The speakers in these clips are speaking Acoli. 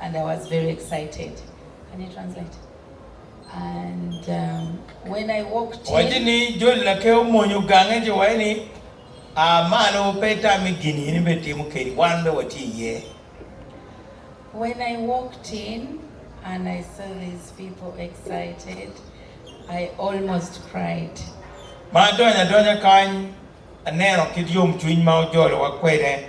and I was very excited can you translate and um, when I walked in Waci ni joli na ke omonyo gange ci waci ni a malo pe tami gin in ibe timo keni wan be watye iye. When I walked in and I saw these people excited, I almost cried. Ma adonyo adonya kany, aneno kit yomcwiny ma ojolowa kwede.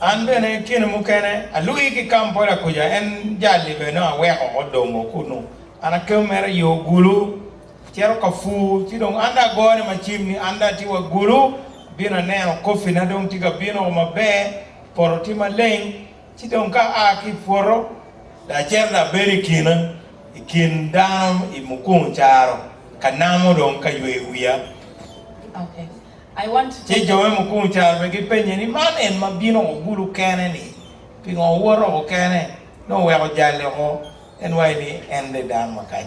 An bene kine mukene alwii ki Kampala kuca, en jali bene nongo aweko odomo kunu. An akemo mere i yo Gulu, acito Kafur, ci dong an dong agone macim ni an dong atye wa Gulu, abino aneno coffee na dong tye ka bino o maber, poto tye maleng. Ci dong ka aa ki i pwoto, lacen abed i kina i kin dano i mukungu caro, ka namo dong ka yweyo wiya. Ci jo me mukungu caro bene gipenye ni, Man en ma bino oko gulu kene-ni, pingo owot oko kene? Nongo wek ojale oko, en waco ni en de dano makac.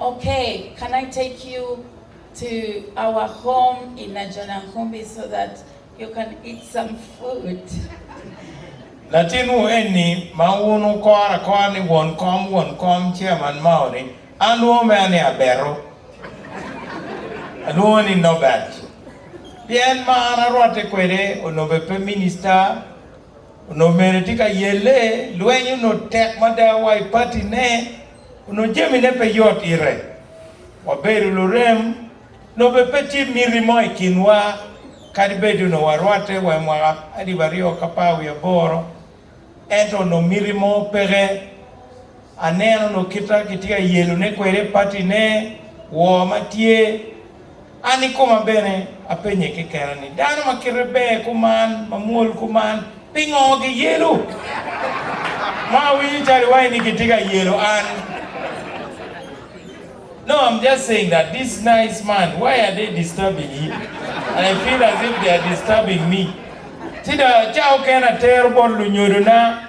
Ok can I take you to our home in Najonankumbi so that you can eat some food. Latinwu enni ma wun wukoro akora ni won kom won kom Chairman Mao ni an alwongo mea ni Abeto alwongo ni Nobert pien ma an arwatte kwede ononbe pe Minister onongo mere tye ka yelle lweny onongo tek mada wa i party ne. Onongo jamine pe yot ite, wabedo lurem, lobe pe tye miti mo i kinwa, kadi bed onongo warwatte wa i mwaka alip aryo ki apar wiye aboro, ento onongo miti mo peke. Aneno onongo kite ma kitye ka yelone kwede patine, woo ma tye. An i koma bene apenye kekena ni, 'Dano ma kite ber kuman, ma mwol kuman, pingo giyelo? Ma awinyo calo iwaci ni gitye ka yelo an. No, I'm just saying that these nice man, why are they disturbing him? And I feel as if they are disturbing me. Ci dok, ca okene atero bot lunyodona.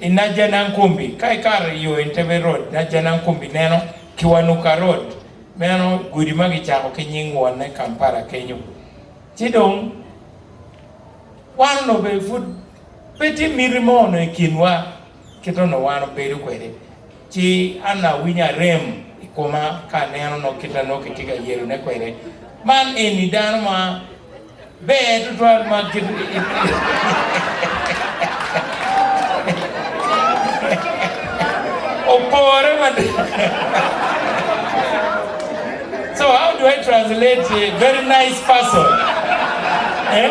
I Najanangkumbi, ka ikato i yo Entebbe Road, Najanangkumbi neno Kiwanuka Road, meno gudi ma kicako ki nying wonne Kampala kenyo. Ci dong wan onongo bene pud pe tye miti mo onongo i kinwa kit onongo wan obedo kwede. Ci an awinyo arem i koma ka aneno nok kit ma nongo kitye ka yelone kwede. Man eni dano ma ber tutwal ma kit opore mada. So how do I translate very nice person? Eh?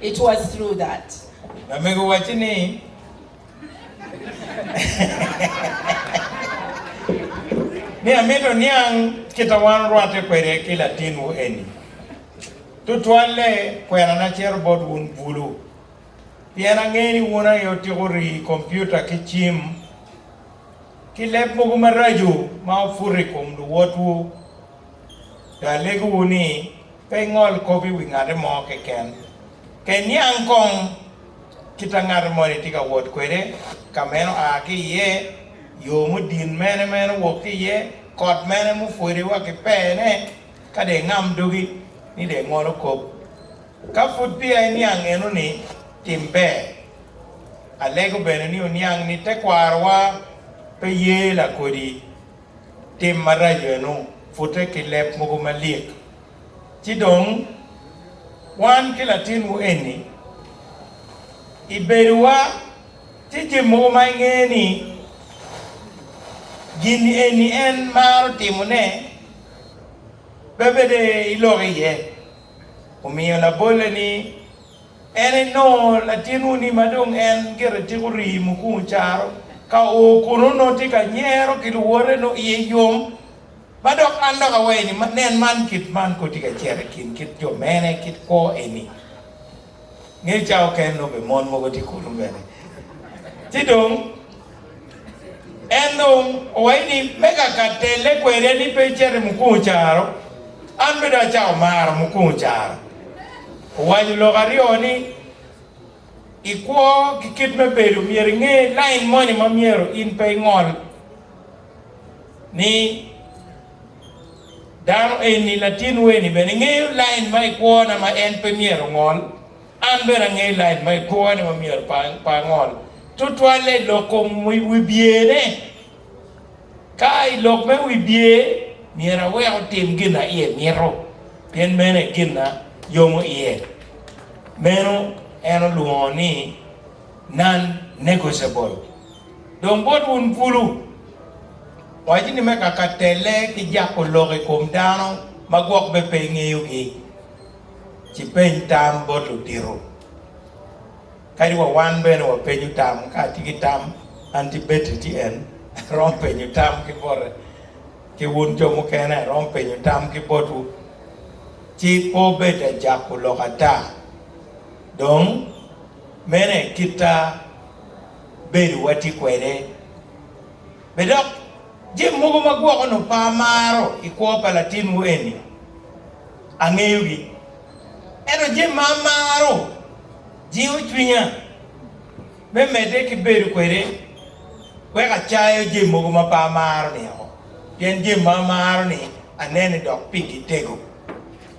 It was through that. Lamego wacci ni, ni amito niang kit a wan orwatte kwede ki latinwu eni, tutwalle kwena na cito bot wun bulu, pien angeyo ni wun aye otiko rii, kompiuta ki cim, ki leb mogo maraco ma oputo i kom luwotwu. Pe alegowu ni. Pe ingol kop i wi ngate mo keken. Ka iniang kong kit a ngate moni tye ka wot kwede, ka meno a ki iye, yo mudin mene ma en owok ki iye, kot mene mupwode wa ki pene, ka dong ingam dogi ni dong ingolo kop. Ka pud peya iniang enoni, tim ber. Alego bene ni wuniang ni tekwarowa pe ye lakodi. tim maraco eno, pute ki leb mogo malik. Ci dong, wan ki latinwu eni, i bedowa tye jami mogo ma ingeyo ni gin eni en maro timone pe bed i lok iye. Omiyo, labolle ni. En enongo latinwu-ni ma dong en gire tika orii mukungu caro ka oo kun onongo tye ka nyero ki luwote nongo iye yom. Ma dok an dok awaye ni, Nen man, kit man kong tye ka cito i kin kit jo mene kit kwo eni. Nge cawa oken nongo bene mon mogo tye kunu bene. Ci dong. En dong owaco ni, Me kaka telle kwede ni pe icito i mukungu caro, an bene acako maro mukungu caro. Owaco lok aryo ni, I kwo ki kit me bedo myero inge lain moni ma myero in pe ingol ni dano eni, latinwu eni bene ngeyo lain ma i kwona ma en pe myero ongol. An bene angeyo lac ma ikworone ma myero pe angol, tutwalle i lok kom wi byene. Ka a i lok me wi bye, myero awek otim gin a iye mito, pien meno aye gin a yomo iye. Meno en olwongo ni non-negotiable. Dong bot wun bulu, waco ni me kaka telle ki jako lok i kom dano ma gwok bene pe ingeyogi. ci peny tam bot ludito. Kadi wa wan bene wapenyo tam, ka atye ki tam, an ci Betty ci en, aromo penyo tam ki bote, ki wun jo mukene aromo penyo tam ki botwu. Ci pe obed ajako lok ata. Dong, mene kit bedo watye kwede. Be dok? Jami mogo ma gwoko onongo pe amaro i kwo pa latinwu eni, angeyogi. Ento jami ma amaro jingo cwinya me medde ki bedo kwede wek acayo jami mogo ma pe amaro-ni woko, pien jami ma amaro-ni anene dok pigi tego.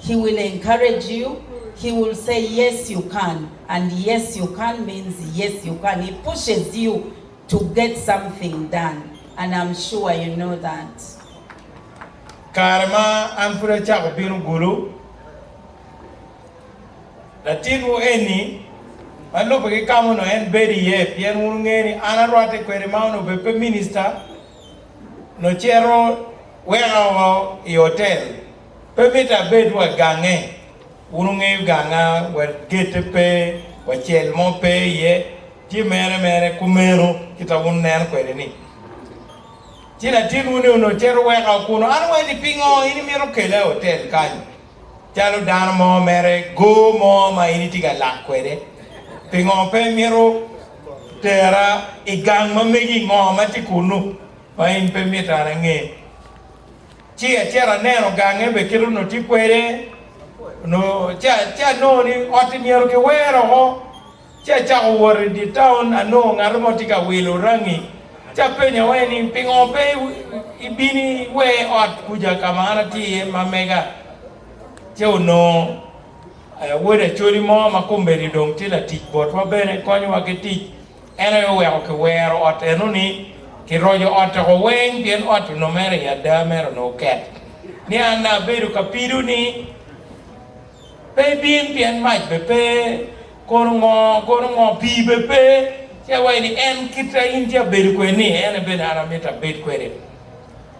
He will encourage you, he will say yes you can and yes you can means yes you can, he pushes you to get something done and am sure you know that. Kare ma an pud acako bino gulu, latinwu eni ma lubbe ki ka ma onongo en bedo iye, pien wun wungeyo ni an arwatte kwede ma onongo bed pe minista, nocito weka woko i otel. Pe mito abed wa gange, wun wungeyo ganga wa, gete pe wa, cel mo pe iye, tye mere mere kumeno kit ma wun wunen kwede-ni. Ci latin wuni onongo cito weka wa kunu. An awaci ni, Pingo in imito kela i otel kany calo dano mo mere go mo ma in itye ka lak kwede? Pingo pe imito tera i gang ma megi? Ngo ma tye kunu ma in pe mito an ange? Ci acito aneno gange bene kit onongo tye kwede, onongo ci ci anongo ni ot-ti myero kiwer oko. Ci acako wot i dye taun, anongo ngat mo tye ka wilo rangi, ci apenyawee ni pingo pe ibino iwer ot kuca ka ma an atye iye ma mega. Ci onongo wod Acholi mo ma kombeddi dong tye latic botwa bene, konyowa ki tic. En aye oweko kiwero ot eno ni Kiroco Ot Toko Weng pien ot onongo mere i ada mere onongo oket. Niang nanga abedo ka pido ni pe ibin pien mac bene pe, kono ngo, kono ngo, pii bene pe, ci awaci ni en kit a in ci abedo kwede-ni ene bene an amito abed kwede.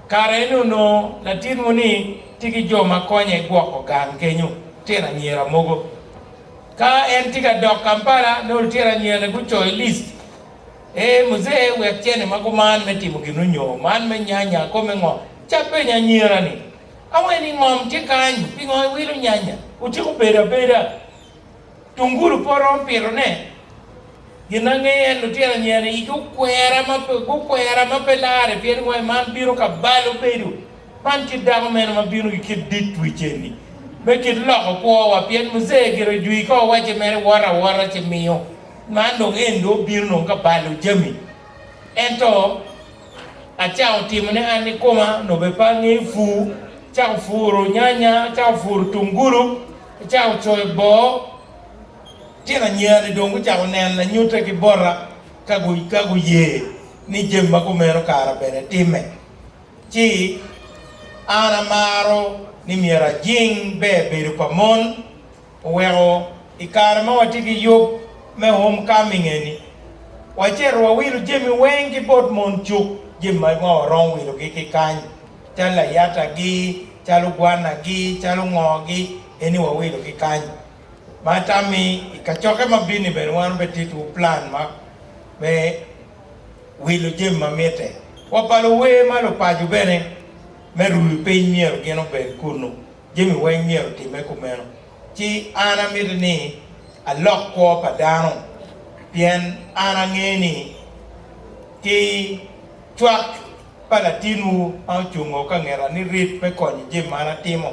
Kare eno onongo latin-wu-ni tye ki jo ma konye gwoko gang kenyo, tyen anyira mogo. Ka en tye ka dok Kampala, nongo lutino anyirane gucoyo list e, Muzee wek cene ma gumano me timo gin onyoo, man me nyanya, kome ngo? Ca penyo anyira ni, Awer ni ngom tye kany, pingo iwilo nyanya? Otyeko bedo abeda. Tungulu pe oromo pito ne. Gin angeyo en lutino anyirane igi okwera ma pe, gukwera ma pe lare pien wai man bino ka balo bedo Man kit dako mene ma bino ki kit dit wi ceni, me kit loko kwowa? Pien Muje gire ojwi ka owace mere wot awota ci miyo, man dong en dong obino dong ka balo jami. Ento acango timone an nikoma, nobe pe angeyo pur, acako puro nyanya, acako puro tungulu, acako coyo boo. Tyen anyerani dong gucako neno lanyute ki bota ka guye ni jami ma kumeno kara bene timme. Ci, an amaro ni myero ajing ber bedo pa mon. Oweko i kare ma watye ki yub me homecoming eni, wacito wawilo jami weng ki bot mon cuk, jami ma nongo waromo wilogi ki kany, calo layatagi, calo gwanagi, calo ngogi, eni wawilo ki kany. Ma tammi, i kacokke ma bino-ni bene wan obed tittiwu plan ma me. wilo jami ma mitte. Wa pa luwer ma lupaco bene me ruu piny myero gin obed kunnu. Jami weng myero otimme kumeno. Ci an amito ni alok kwo pa dano pien an angeyo ni ki cwak pa latinwu ma ocungo ka ngeta ni rit me konyo jami ma an atimo.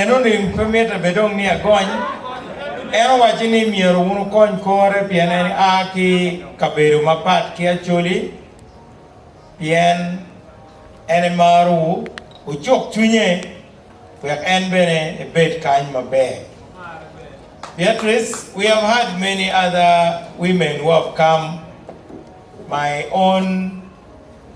Enoni pe mitte bed dong ni agony. En owaci ni myero wun wukony kore pien en a ki kabedo mapat ki Acholi, pien en emarowu. Wucuk cwinye wek en bene ebed kany maber. Beatrice, we have had many other women who have come, my own.